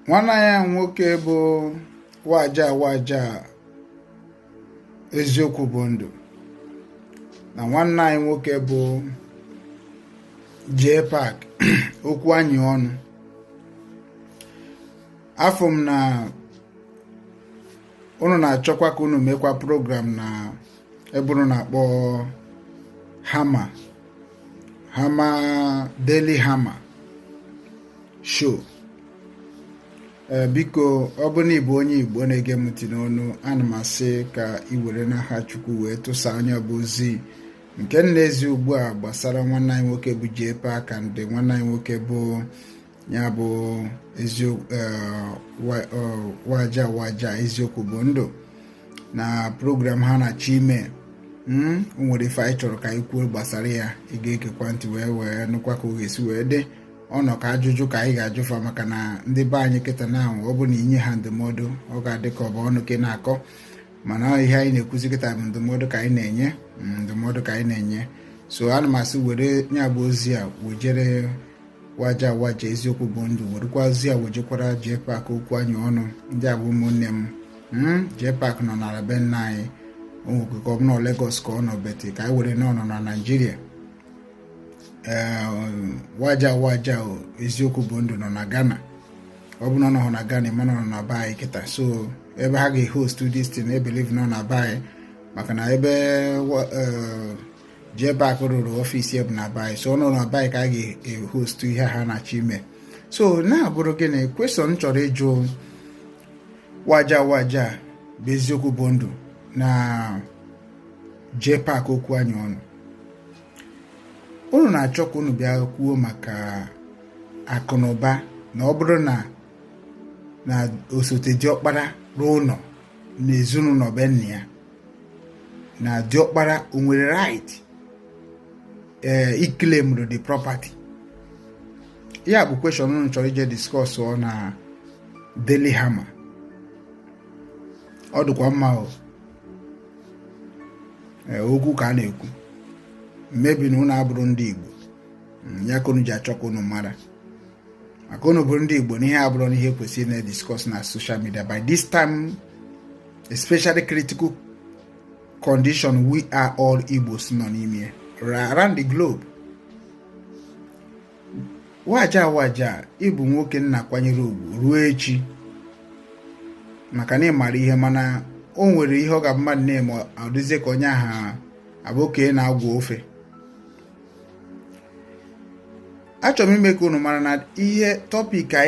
nwanne anyị nwoke bụ waja waja eziokwu bụ ndụ na nwanne anyị nwoke bụ JPAC okwu anyị ọnụ afụ m na unu na-achọkwa ka unu mekwa program na ebe unu na-akpọ hama Hama Daily Hama show eh, biko ọ bụ na ị bụ onye Igbo na-ege m ntị n'ọnụ ana m asị ka ị were n'aha Chukwu wee tụsa nya bụ ozi nke m na-ezi ugbu a gbasara nwanne anyị nwoke bụ JPAC and nwanne anyị nwoke bụ ya bụ eziokwu eh, eh, waja waja eziokwu bụ ndụ na program ha na-achọ ime hmm, o nwere ife anyị chọrọ ka anyị kwuo gbasara ya ị ga-egekwa ntị wee wee nụkwa ka ọ ga-esi wee dị ọ nọ ka ajụjụ ka anyị ga-ajụfa maka na ndị be anyị kịta na ahụ ọ bụ na i nye ha ndụmọdụ ọ ga-adị ka ọ bụ ọnụ ka ị na-akọ mana ihe anyị na-ekwuzi kịta bụ ndụmọdụ ka anyị na-enye mm, ndụmọdụ ka anyị na-enye so ana m asị were ya bụ ozi a wejere waja waja eziokwu bụ ndụ werekwazi ya wejekwara JPAC okwu anyị ọnụ ndị a bụ ụmụnne m hmm? JPAC nọ na be nna anyị o nwere ka ọ bụ na Lagos ka ọ nọ but ka anyị were na ọ nọ na Naịjirịa eh, waja waja eziokwu bụ ndụ nọ na Ghana ọ bụ na ọ nọ na Ghana mana ọ nọ na be anyị kịta so ebe ha ga-ehost this thing I believe ọ nọ na be anyị maka na ebe eh, JPAC rụrụ office ya bụ na be anyị so ọ nọ na be anyị ka a ga-ehostu ihe ha na-achọ ime so na-abụrụ gịnị question m chọrọ ịjụ waja waja bụ eziokwu bụ ndụ na JPAC okwu anyị ọnụ unu na-achọ ka unu bịa kwuo maka akụ na ụba na ọ bụrụ na na osote diọkpara rụọ ụlọ na ezinụlọ be nna ya na diọkpara o nwere right ee eh, iklemrụ the property ya bụ question unu chọrọ ije discuss o na Daily hama ọ dịkwa mma o eh, okwu ka a na-ekwu maybe na unu abụrọ ndị Igbo hmm, ya ka unu ji achọ ka unu mara maka unu bụrụ ndị Igbo na ihe a abụrọ na ihe kwesịrị na-ediscuss na social media by this time especially critical condition we are all Igbos nọ n'ime around the globe waja waja ị bụ nwoke m na-akwanyere ugwu ruo echi maka na ị mara ihe mana o nwere ihe ọ ga-abụ mmadụ na-eme ọ dịzie ka onye aha abụ okenye na-agwọ ofe achọrọ m ime ka unu mara na ihe topic anyị